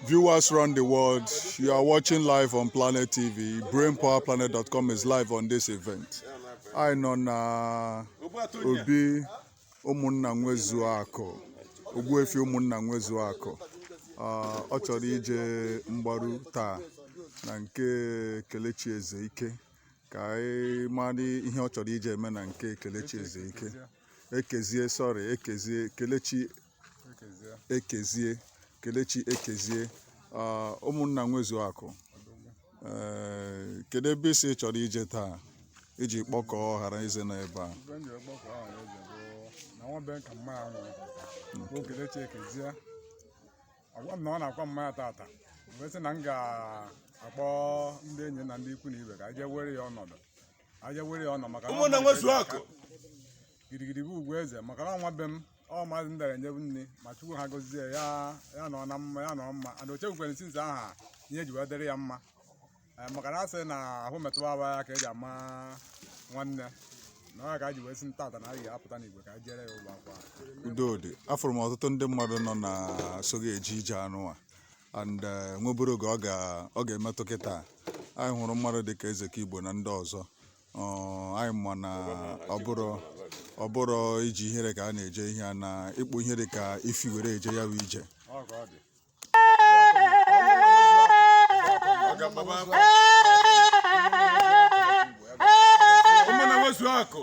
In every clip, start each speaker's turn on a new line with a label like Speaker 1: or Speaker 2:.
Speaker 1: Viewers around the world, you are watching live on Planet TV. BrainPowerPlanet.com is live on this event. Anyị nọ na obi ụmụnna nwezuo akụ Ogbuefi ụmụnna nwezuo akụ ah, ọ chọrọ ije mgbaru taa na nke Kelechi Ezeike ka anyị mara ihe ọ chọrọ ije eme na nke Kelechi Ezeike Ekezie sorry Ekezie Kelechi Ekezie Kelechi Ekezie ah, ụmụnna nwezuo akụ ee kedu ebe ị sị ị chọrọ ije taa iji kpọkọọ ọha na eze nọ ebe a Ihe m ji akpọkọ ọha na eze bụ na nwa be nka mma ahụ bụ Kelechi Ekezie agwa m na ọ na-akwa mama ya taata m wee sị na m ga-akpọ ndị enyi na ndị ikwu na ibe ka aje were ya ọnọdụ aje were ya ọnọdụ maka na ọ ụmụnna malitere nwezuo akụ gidigidi bụ ugwu eze maka na nwa be m ọ maazị ndara enyebu nne ma Chukwu ha gozie ya ya nọ na mma ya nọ mma ana ochekwukwere since aha ihe ji wee dịrị ya mma Eh, maka na a sị na ahụ metụwa aba ya ka eji ama nwanne na ọ ya ka a ji wee sị na taata na anyị apụta n'igwe ka a jere ya ụgbọ akwa udodi afụrụ m ọtụtụ ndị mmadụ nọ na-eso gị eje ije anụwa and eh, nweburu oge ọ ga- ọ ga-emetụ kịta anyị hụrụ mmadụ dịka eze ka Igbo na ndị ọzọ Ọ, anyị ma na ọ bụrụ ọ bụrụ iji ihere ka a na-eje ihe a na ịkpụ ihe dị ka efi were eje ya bụ ije Ụmụnna nwezuo akụ.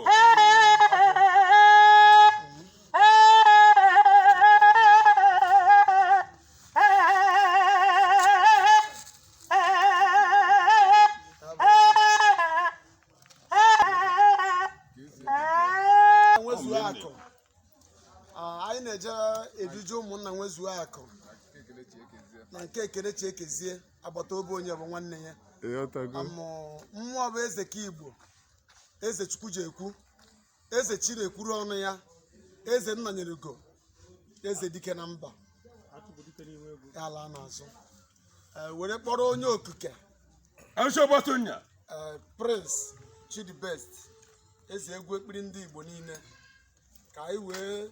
Speaker 1: nwezuo akụ Ah, anyị na-eje eduju ụmụnna nwezuo akụ na nke Kelechi Ekezie agbata obi onye bụ nwanne ya ịghọtago Amụ, mmụọ bụ eze ka Igbo eze Chukwu ji ekwu eze chi na-ekwuru ọnụ ya eze nna nyere ugo eze dike na mba ala n'azụ Eh, were kpọrọ onye okike Eshobatunya. eh, Prince Chidibest eze egwu ekpiri ndị Igbo niile ka anyị wee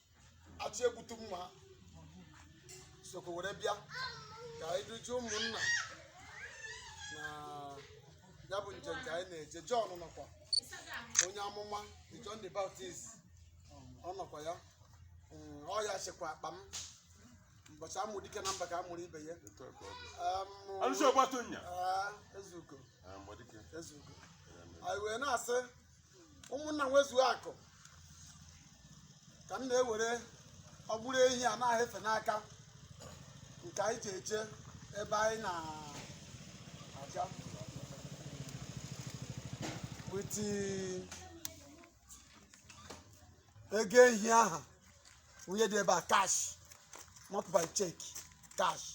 Speaker 1: achọ egbutu mma ha sokwu were bịa ka anyị dujuo ụmụnna na ya bụ njem ka anyị na-eje John nọkwa onye amụma the John the Baptist ọ nọkwa ya Mm, ọ ya chekwa akpa m ụbọchị a mụ dike na mba ka a mụrụ ibe ya Etu a ka ọ dị. Em, Alụsị ọgbatonya. ah, Ezeugo Ah, mgbadike. Ezeugo anyị wee na-asị ụmụnna nwezuo akụ ka m na-ewere o gburu ehi a na-ahụ efe n'aka nke anyị ji eje ebe anyị na-aga with ego ehi aha nwunye dị ebe a cash not by check cash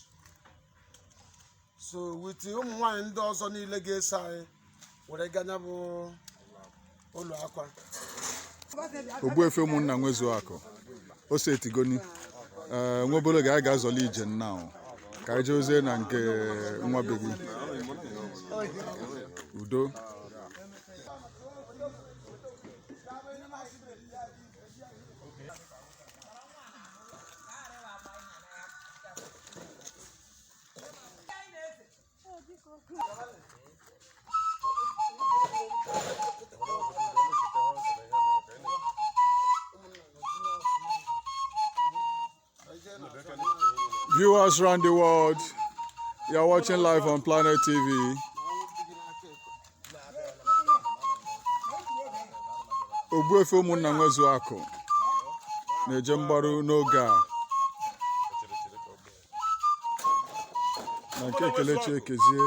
Speaker 1: so with ụmụ nwaanyị ndị ọzọ niile ga-eso anyị were gaa na ya bụ ụlọ akwa Ogbuefi ụmụnna nwezu akụ ose etigoni ee nwa obele oge anyị ga-azọli ije nna ahụ ka anyị jee ozi na nke nwa be gị udo Viewers around the world, you are watching live on Planet TV. Ogbuefi ụmụnna nwezu akụ na-eje mgbaru n'oge a na nke Kelechi Ekezie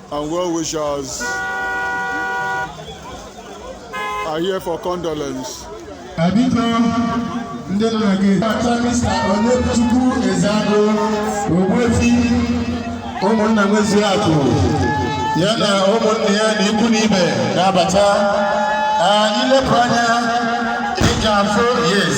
Speaker 1: and well wishers are here for condolence. Abiko ndị nna gị ata Mr. Onyechukwu Ezeago Ogbuefi ụmụnna nwezuo akụ ya na ụmụnna ya na ikwu na ibe na-abata i lepụ anya ị ga-afụ yes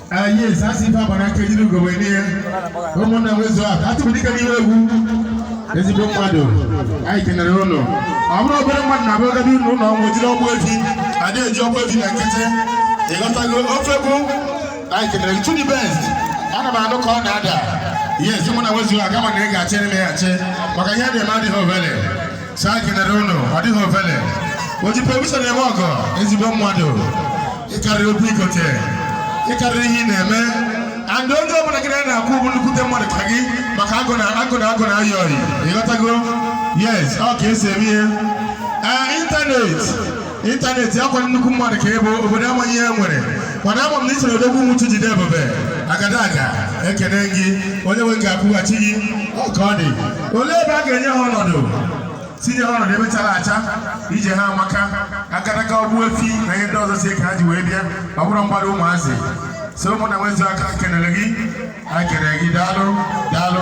Speaker 1: Ah, yes, a sị ife agbara aka ejiri ugo wee nye ya ụmụnna nwezuo akụ atụbụ dịka n'iwe egwu ezigbo mmadụ anyị kenere unu ọ bụrọ obere mmadụ na abụrụ gadi ụlọ ụlọ ọnwụ jiri Ogbuefi adị eji Ogbuefi na nkịtị ị ghọtago ife ọ bụ anyị kenere gị Chudi Best ana m anụ ka ọ na-ada yes ụmụnna nwezuo akụ mana ị ga-achị eme ya achị maka ihe a na-eme adịghị ovele sir ekenere unu ọ dịghị ofele o ji provision eme ọgọ ezigbo mmadụ ị karịrị obi ikote ị karịrị ihe ị na-eme and onye ọbụla gị na ya kwụ bụ nnukwute mmadụ ka gị maka agụ na agụ na agụ na-ayị ọyị ị ghọtago yes ọ ka e si eme ihe ee ịntanetị ịntanetị akwa nnukwu mmadụ ka ebe obodo amaghị ihe nwere mana ama m na isoro odogwu nwuchu jide ebube agadaga ekene gị onye nwe ga-akwụghachi gị ka ọ dị olee ebe a ga-enye ha ọnọdụ tinye ha ọnọdụ ebe chara acha ije ha amaka agadaga ogbuefi na ihe ndị ọzọ si ka ha ji wee bịa ọ bụrụ mgbado ụmụazị so ụmụnna nwezu aka kenere gị anyị kenere gị daalụ daalụ